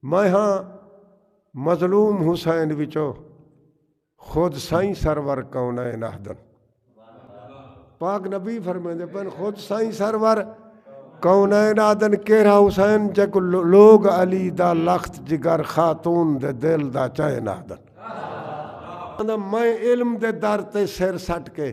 میں ہاں مظلوم حسین وچو خود سائیں سرور کونین آہدن پاک نبی فرمیندے پن خود سائیں سرور کونین آدن کیرا حسین جے کو لوگ علی دا لخت جگر خاتون دے دل دا چین آدن میں علم دے در تے سر سٹ کے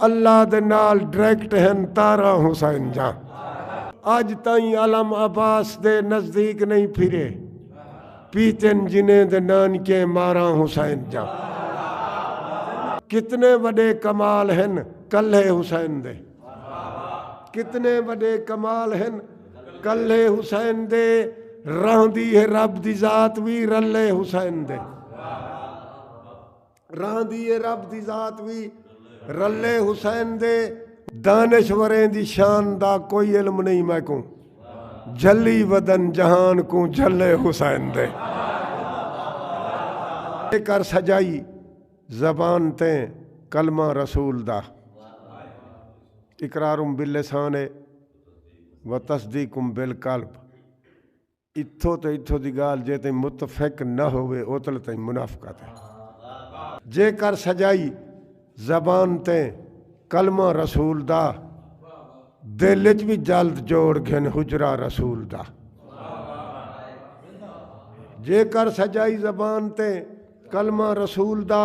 اللہ دے نال ڈریکٹ ہن تاراں حسین جاں اج تائیں علم عباس دے نزدیک نہیں پھرے پیتن جنہیں دے نانکے ماراں حسین جاں کتنے وڈے کمال ہن کلھے حسین دے کتنے وڈے کمال ہن کلھے حسین دے رہندی ہے رب دی ذات وی رلے حسین دے رہندی اے رب دی ذات وی رلے حسین دے۔ دانشوریں دی شان دا کوئی علم نئیں میکوں جھلی ودن جہان کوں جھلے حسین دے۔ اے کر سجائی زبان تے کلمہ رسول دا اقرار باللسان اے و تصدیق بالقلب۔ اتھوں تے اتھوں دی گالھ جے تئیں متفق نہ ہووے اوتلے تئیں منافقت ہے۔ جے کر سجائی زبان تے کلمہ رسول دا دل اچ وی جلد جوڑ گھن حجرہ رسول دا۔ جے کر سجائی زبان تے کلمہ رسول دا۔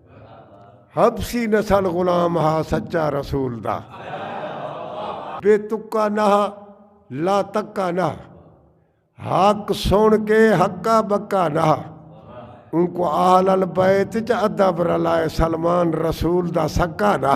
حبسی نسل غلام ہا سچا رسول دا بے تکا نہ لا تکا نہ حق سن کے حقا بکا نہ ان کو آل البیت چ ادب رلائے سلمان رسول دا سکا نہ